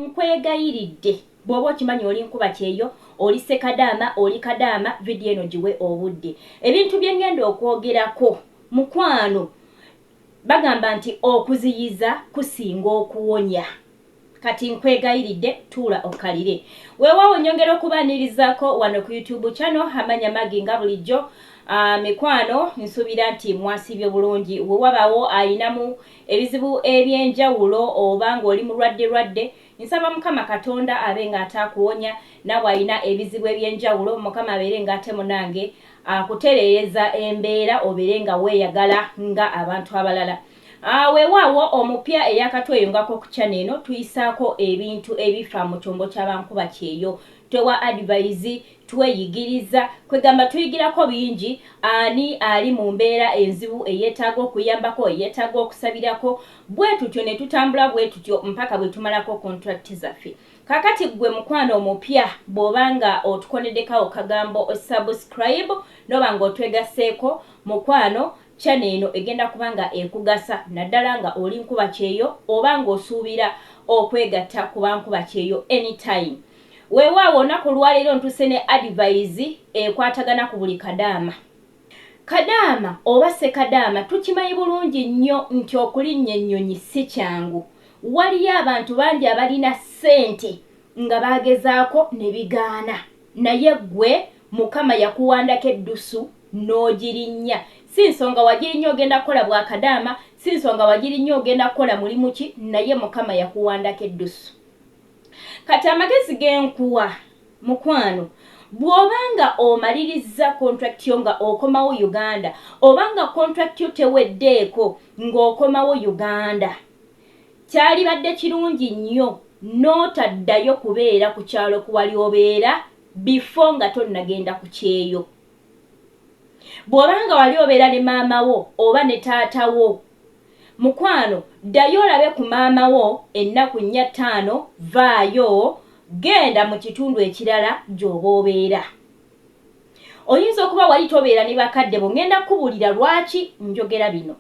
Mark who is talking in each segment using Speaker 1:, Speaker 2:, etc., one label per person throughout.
Speaker 1: nkwegayiridde bw'oba okimanyi oli nkuba kyeyo oli sekadaama oli kadaama vidiyo eno giwe obudde ebintu bye ŋŋenda okwogerako mukwano bagamba nti okuziyiza kusinga okuwonya kati nkwegayiridde tuula okkalire weewaawo nnyongera okubaanirizaako wano ku youtube kyano amanya magi nga bulijjo ah, mikwano nsuubira nti mwasiibye bulungi we wabaawo alinamu ebizibu ebyenjawulo oba nga oli mulwadde lwadde nsaba mukama katonda abe nga ate akuwonya nawe ayina ebizibu ebyenjawulo mukama abere nga ate munange akuterereza embeera obere nga weyagala nga abantu abalala ah, wewaawo omupya eyakatweyungako ku chana eno tuyisaako ebintu ebifa mu kyombo kyabankuba kyeyo twewa advise Tweyigiriza, kwegamba tuyigirako bingi, ani ali mu mbeera enzibu eyeetaaga okuyambako, eyeetaaga okusabirako, bwetutyo ne tutambula bwetutyo mpaka bwe tumalako contract zaffe. Kaakati ggwe mukwano omupya bw'oba nga otukoneddeko awo kagambo subscribe n'oba nga otwegasseeko mukwano, channel eno egenda kuba nga ekugasa naddala nga oli nkuba kyeyo oba nga osuubira okwegatta ku ba nkuba kyeyo anytime. Weewaawo olunaku olwaleero ntuuse ne adivayizi ekwatagana ku buli kadaama. Kadaama oba ssekadaama tukimanyi bulungi nnyo nti okulinnya ennyonyi si kyangu. Waliyo abantu bangi abalina ssente nga baagezaako ne bigaana naye ggwe Mukama yakuwandako eddusu n'ogirinnya. Si nsonga wagirinnya ogenda kukola bwa kadaama, si nsonga wagirinnya ogenda kukola mulimu ki naye Mukama yakuwandako eddusu. Kati amagezi genkuwa mukwano bwoba nga omalirizza contract yo nga okomawo Uganda oba nga contract yo teweddeeko ng'okomawo Uganda kyalibadde kirungi nnyo n'otaddayo kubeera ku kyalo kuwali obeera bifo nga tonnagenda ku kyeyo bw'oba nga wali obeera ne maama wo oba ne taata wo Mukwano ddayo olabe ku maama wo ennaku nnya ttaano vvaayo genda mu kitundu ekirala gy'oba obeera. Oyinza okuba wali tobeera ne bakadde bo ngenda kukubuulira lwaki njogera bino.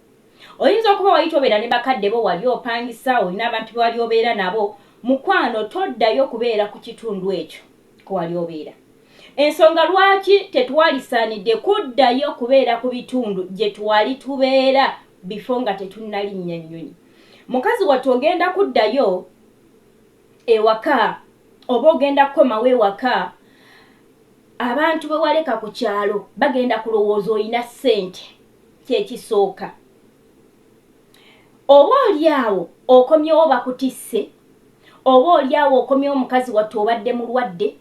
Speaker 1: Oyinza okuba wali tobeera ne bakadde bo wali opangisa olina abantu be wali obeera nabo, mukwano toddayo kubeera ku kitundu ekyo. kwewali obeera. Ensonga lwaki tetwali saanidde kuddayo kubeera ku bitundu gye twali tubeera before nga tetunnalinnya nnyonyi. Mukazi wattu ogenda kuddayo ewaka oba ogenda kukomawo ewaka, abantu be waleka ku kyalo bagenda kulowooza olina ssente kye kisooka. Oba oli awo okomyewo bakutisse, oba oli awo okomyewo mukazi wattu obadde mulwadde,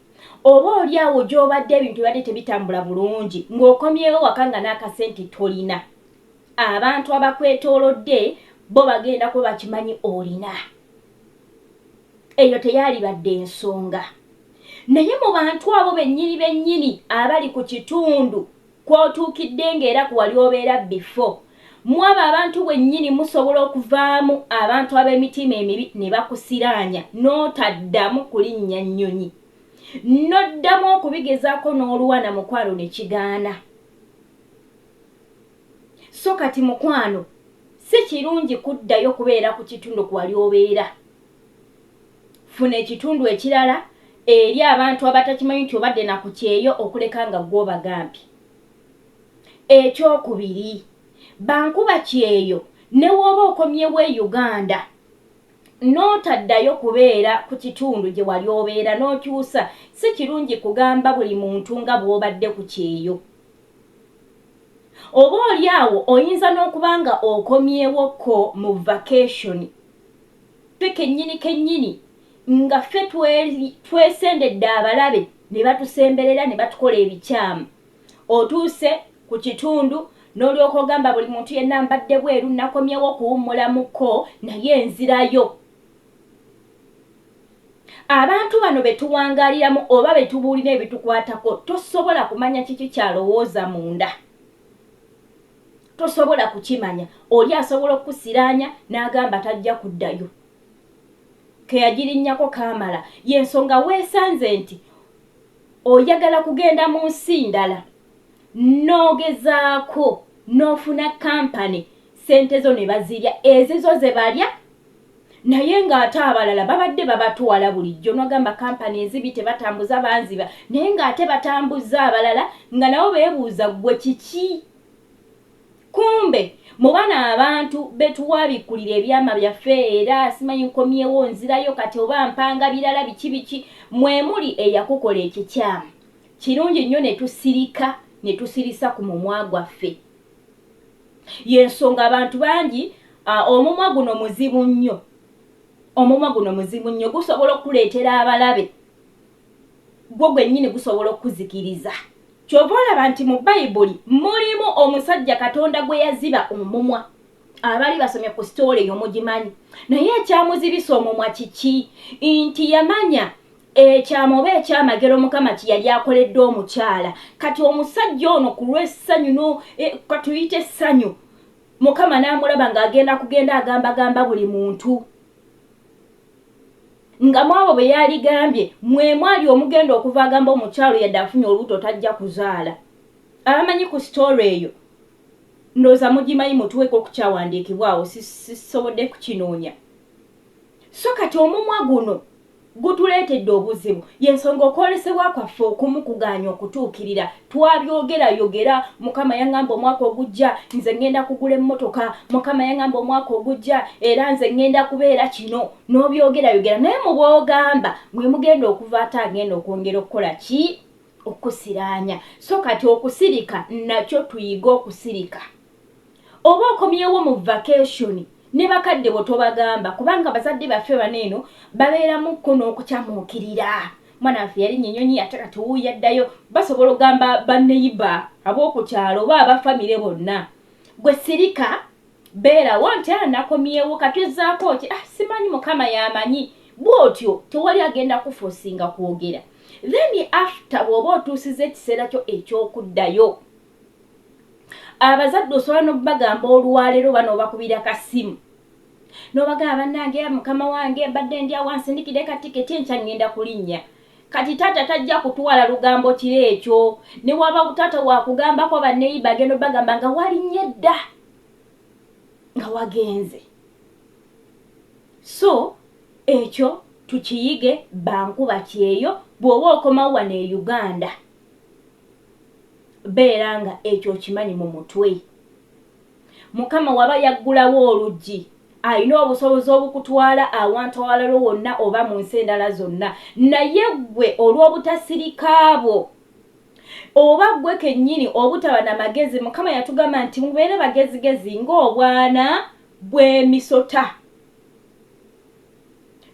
Speaker 1: oba oli awo gy'obadde ebintu bibadde tebitambula bulungi ng'okomyewo ewaka nga n'akasente tolina, abantu abakwetoolodde bo bagenda kuba bakimanyi olina. Eyo teyaalibadde nsonga. Naye mu bantu abo bennyini bennyini abali ku kitundu kw'otuukidde ng'era ku wali obeera bifo. Mw'abo abantu bwennyini musobola okuvaamu abantu ab'emitiima emibi ne bakusiraanya n'otaddamu kulinnya nnyonyi n'oddamu okubigezaako n'oluwa na mukwano ne kigaana. So kati mukwano si kirungi kuddayo kubeera ku kitundu ku wali obeera. Funa ekitundu ekirala eri abantu abatakimanyi nti obadde na ku kyeyo okuleka nga ggwe obagambye. Ekyokubiri, ba nkuba kyeyo ne w'oba okomyewo e Uganda n'otaddayo kubeera ku kitundu gye wali obeera n'okyusa, si kirungi kugamba buli muntu nga bw'obadde ku kyeyo. Oboolyawo oyinza n'okuba nga okomyewokko mu vakesoni. ffe kennyini kennyini nga ffe twesendedde abalabe ne batusemberera ne batukola ebikyamu. Otuuse ku kitundu n'olyoka ogamba buli muntu yenna mbadde bweru nnakomyewo okuwummula mu ko naye nzirayo. Abantu bano be tuwangaaliramu oba be tubuulira ebitukwatako tosobola kumanya kiki ky'alowooza munda. Tosobola kukimanya. Oli asobola okukusiraanya n'agamba tajja kuddayo. Ke yagirinnyako kaamala. Y'ensonga weesanze nti oyagala kugenda mu nsi ndala n'ogezaako n'ofuna kampani ssente zo ne bazirya ezizo ze balya. naye nga ate abalala babadde babatwala bulijjo nogamba kampani enzibi tebatambuza banziba naye nga ate batambuzza abalala nga nabo bebuuza ggwe kiki kumbe mubana abantu betuwabikkulira ebyama byaffe era simanyi nkomyewo nzirayo kati oba mpanga birala biki biki mwemuli eyakukola ekikyamu kirungi nnyo netusirika netusirisa ku mumwa gwaffe yensonga abantu bangi uh, omumwa guno muzibu nnyo omumwa guno muzibu nnyo gusobola okukuleetera abalabe gwo gwennyini gusobola okukuzikiriza kyova olaba nti mu bayibuli mulimu omusajja katonda gwe yaziba omumwa abali basomye ku sitoola eyo mugimanyi naye ekyamuzibisa omumwa kiki nti yamanya ekyama oba ekyamagero mukama kye yali akoledde omukyala kati omusajja ono ku lw'essanyu no e, katuyite essanyu mukama n'amulaba ng'agenda kugenda agambagamba buli muntu nga mwabo bwe yaligambye mwe mwali omugenda okuva agamba omukyalo yadde afunye olubuto tajja kuzaala abamanyi ku sitoola eyo Ndowooza mugimanyi mutuweko okukyawandiikibwa awo sisobodde kukinoonya so kati omumwa guno gutuleetedde obuzibu yensonga okwolesebwa kwaffe okumu kugaanye okutuukirira twabyogera yogera mukama yangamba omwaka ogujja nze ngenda kugula emmotoka mukama yangamba omwaka ogujja era nze ngenda kubeera kino n'obyogera yogera naye mubwogamba mwemugenda okuva ate agenda okwongera okukola ki okusiraanya so kati okusirika nakyo tuyige okusirika oba okomyewo mu vacation ne bakadde bo tobagamba kubanga abazadde baffe bano eno babeeramukko n'okucamuukirira mwana waffe yali nyenyonyi ate kati wuuyo addayo basobola okugamba baneyiba ab'oku kyalo oba abafamire bonna gwe sirika Beerawo nti ah nakomyewo kati ozzaako ki? Ah simanyi mukama y'amanyi. Bw'otyo tewali agenda kukufosinga kwogera. Then after bw'oba otuusizza ekiseera kyo eky'okuddayo, abazadde osobola n'okubagamba olwaleero oba n'obakubira ka ssimu n'obagamba bannange mukama wange mbadde ndi awo ansindikire ka tiketi enkya ŋŋenda kulinnya. Kati taata tajja kutwala lugambo kiro ekyo. Ne waba taata wakugambako banneyiba agenda obagamba nga walinnye dda. nga wagenze so ekyo tukiyige bankuba kyeyo bw'oba okomawo wano e uganda beera nga ekyo okimanyi mu mutwe mukama waba yaggulawo oluggi alina obusobozi obukutwala awantu awalalo wonna oba mu nsi endala zonna naye ggwe olw'obutasirika bwo Oba ggwe kennyini obutaba na magezi, Mukama yatugamba nti, Mubeere bagezigezi ng'obwana bw'emisota.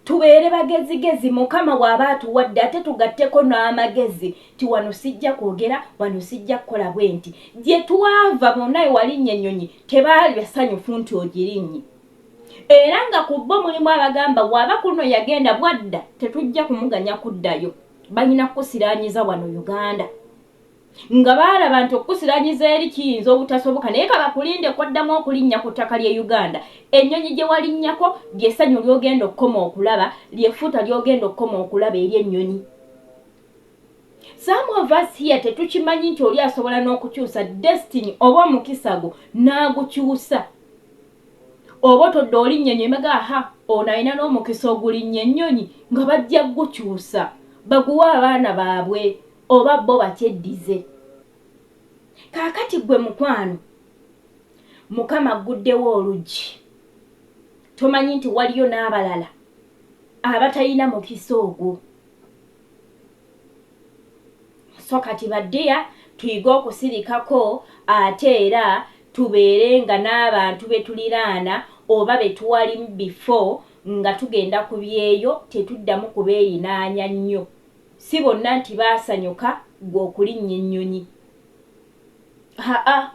Speaker 1: Tubeere bagezigezi Mukama w'aba atuwadde ate tugatteko n'amagezi nti wano sijja kwogera, wano sijja kukola bwe nti. Gye twava bonna we walinnya ennyonyi tebaali basanyufu nti ogirinnye. Era nga ku bo mulimu abagamba waba kuno yagenda bwadda tetujja kumuganya kuddayo. banyina kukusiranyiza wano uganda nga baalaba nti okukusiranyiza eri kiyinza obutasoboka naye kabakulinde kwaddamu okulinnya ku ttaka ly'e uganda ennyonyi gye walinnyako lyessanyu ly'ogenda okukoma okulaba lyefuuta ly'ogenda okukoma okulaba eri ennyonyi some of us here tetukimanyi nti oli asobola n'okukyusa destiny oba omukisa gwo n'agukyusa Oba otodde olinnya ennyonyi emagga aha ono alina n'omukisa ogulinnya ennyonyi nga bajja kugukyusa baguwe abaana baabwe oba bo bakyeddize. Kaakati ggwe mukwano Mukama agguddewo oluggi tomanyi nti waliyo n'abalala abatalina mukisa ogwo. so kati baddeya tuyige okusirikako ate era tubeere nga n'abantu betuliraana oba betuwali bifo nga tugenda ku byeyo tetuddamu kubeeyinaanya nnyo si bonna nti baasanyuka gwe okulinnya ennyonyi haa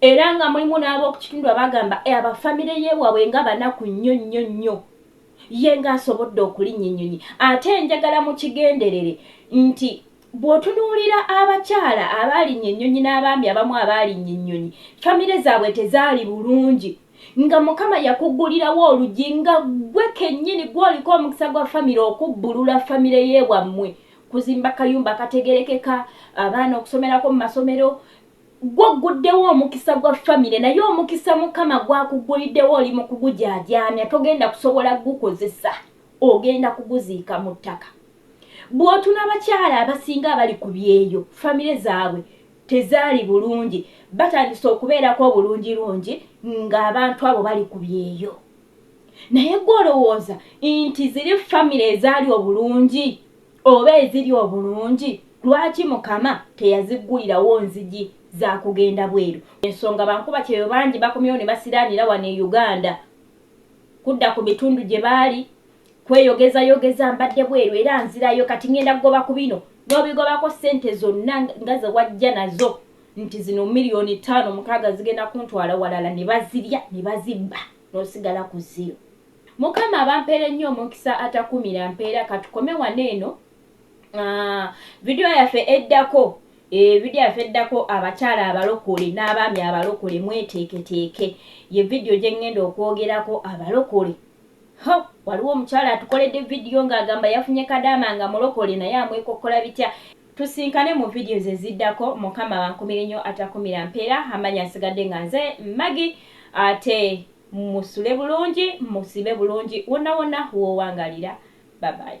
Speaker 1: era nga mulimu n'ab'okukitundu abagamba e abafamire yeewabwe nga banaku nnyo nnyo nnyo Ye nga asobodde okulinnya ennyonyi ate njagala mukigenderere nti bw'otunuulira abakyala abaalinya ennyonyi n'abaami abamu abaalinya ennyonyi famire zaabwe tezaali bulungi nga Mukama yakuggulirawo oluggi nga ggwe kennyini gw'oliko omukisa gwa famire okubbulula famire y'ewammwe kuzimba kayumba akategerekeka abaana okusomerako mu masomero Gwo ogguddewo omukisa gwa famire naye omukisa Mukama gw'akugguliddewo oli mu kugujaajaamya togenda kusobola kugukozesa ogenda kuguziika mu ttaka. Bw'otuna abakyala abasinga abali ku byeyo famire zaabwe tezaali bulungi batandise okubeerako obulungirungi ng'abantu abo bali ku byeyo naye gwe olowooza nti ziri famire ezaali obulungi Oba eziri obulungi lwaki mukama teyaziggulirawo nzigi za kugenda bweru? Ensonga bankubakyeyo bangi bakomyewo ne basiraanira wano e Uganda kudda ku bitundu gye baali kweyogezayogeza. Mbadde bweru era nzirayo kati ng'enda kugoba ku bino n'obigobako ssente zonna nga ze wajja nazo nti zino miriyoni ttaano mukaaga zigenda kuntwala walala ne bazirya ne bazibba n'osigala ku ziro. Mukama abampere nnyo omukisa atakumira mpeera katukome wano eno ah, video yaffe eddako eh, video yaffe eddako abakyala abalokole n'abaami abalokole mweteeketeeke ye video gye ŋŋenda okwogerako abalokole ho waliwo omukyala atukoledde video ng'agamba yafunye kadaama nga mulokole naye amwekokkola bitya tusinkane mu video ze ziddako mukama bankumire nnyo atakumira mpeera amanya nsigadde nga nze magi ate Musule bulungi musibe bulungi wonna wonna wowangalira bye bye.